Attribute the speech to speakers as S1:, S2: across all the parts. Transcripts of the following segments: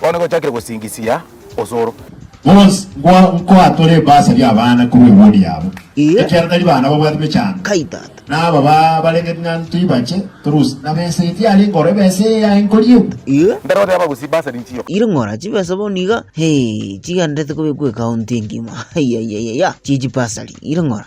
S1: Bono nigochakire
S2: gosingisia osoro. Bonsi
S1: nkwa nkoa tore ebaasa y'abana korwa ewood yabo, ekiara tari bana babwate mechando, na aba
S3: ba
S1: barenge ring'anto ibache torusi, na besa eye tiari nkoro ebesa eye yaye nkori ebu. Mbero oteba gusii
S2: baasa ninchio. Iri ng'ora chibesa bono
S3: iga, hee, chigenderete kobekwa ecounty engima, aiaiaiaia, chie chibasari, iri ng'ora.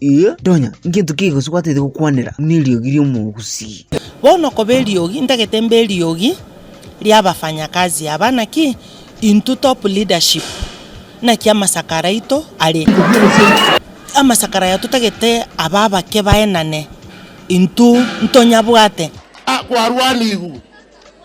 S3: Inye ndonya ngento ki gose gwataete gokwanera neriogi ri'omogusii? Bono koba
S4: eriogi ntagete mbe eriogi ri'abafanyakazi aba, naki intwe top leadership naki amasakara aito are. Amasakara aya totagete abe abake baenane intwe ntonyabwate. Kwarwanigwe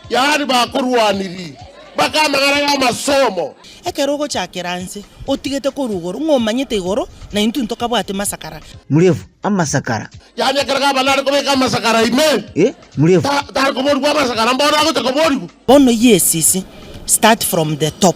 S5: Yaani bakorwanirie, mpaka amagara y'amasomo. Ekero ogochakera
S4: anse, otigete korwa igoro, ng'a omanyete igoro, na intwe ntokabwati masakara. Murefu,
S3: amasakara. Yaani ekero Gavana
S5: are kobeka amasakara ime, Eh, murefu. ta- tare
S3: koborigwa
S5: amasakara, mbono agocha koborigwa. Bono yesisi,
S4: start from the top.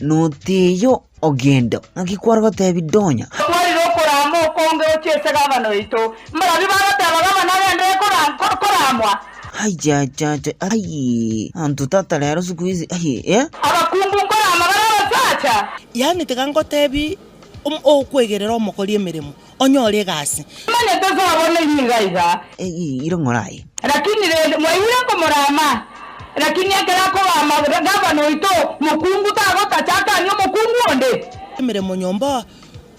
S3: Noteyo ogenda, ng'aki kware gotebi donya? Tokwarire okoraama
S6: okonge gochia ase gavana oito. Mbarabwo bagoteba gavana agende koraamwa. Aichachacha, ai,
S3: anto tata rero sikuizi, ai, eh. Abakungu
S6: nkoraama bare abasacha. Yaani tiga
S4: ngotebi, okwegera ere omokori emeremo, onyore egasi. Manye tosabone
S6: nigo aiga. Eyiire ng'oraye.
S3: Lakini rende
S6: mwaigure komorama, lakini ekero akoba amagena, gavana oito mokungu tagotacha akanie omokungu onde. Emeremo nyomba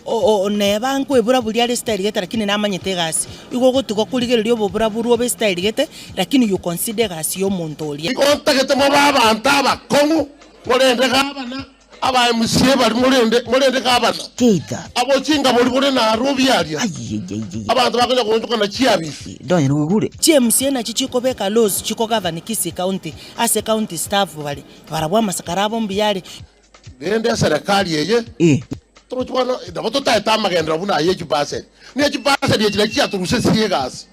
S4: oo neba nkwebura buria are esitairigete lakini namanyete egasi. Igo ogotuga korigereria obobura borwe obe esitairigete lakini you consider egasi y'omonto oria. Igo ntagete mobe
S7: abanto abakong'u, korende gavana Abaemusie bari morende, morende gavana Tita. abo
S3: chingabori bore
S7: naro obiaria, Ayiyeyeyeye. abanto bakonya koonchokana chiabichi. Ndonye nogigure.
S3: Chiemsie nachio
S4: chikobeka Losi chikogavani kisi ekaunti ase county staff bare barabwo amasakara abo mbuyare. Rende
S7: eserekari eye Ee. togochia bono nabo totaete amagenderero buna ay'echibaseri, ne chibaseri echi nachi chiatorusesirie egasi.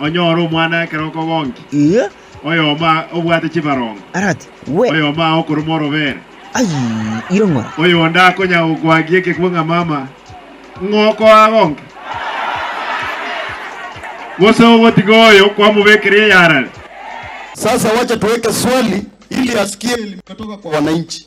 S8: Onyore omwana ekero okogonkia, Ee, oyomo aa obwate chibarongo, arati, we,
S3: oyomo aa okoruma
S8: orobere, ai, iro
S3: ng'ora. oyonde akonya
S8: gokwagia ekekwe ng'a mama, ng'a okoagonkia, gose ogotiga oyo kwamobekera eyarare. Sasa wacha tuweke swali ili asikie elimu imetoka kwa wananchi.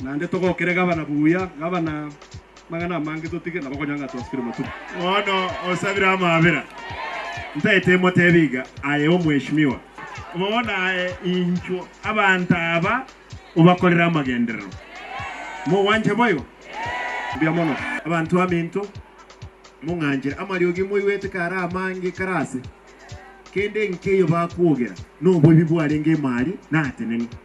S8: Naende togokere gavana buya, gavana magana amange totige, nabo konya ng'a twasukire matuko. Bono osabire amabera. Ntaete emotebie iga, aye omweshimiwa, bono aye inchwo abanto aba obakorere amagenderero.
S9: Mogwanche boigo? Mbuya mono. Abanto baminto, mong'anchire amariogi moigwete kare amange kare aase. Kende nkeiyo bakwogera, noboibi bwarenge imari, natenene.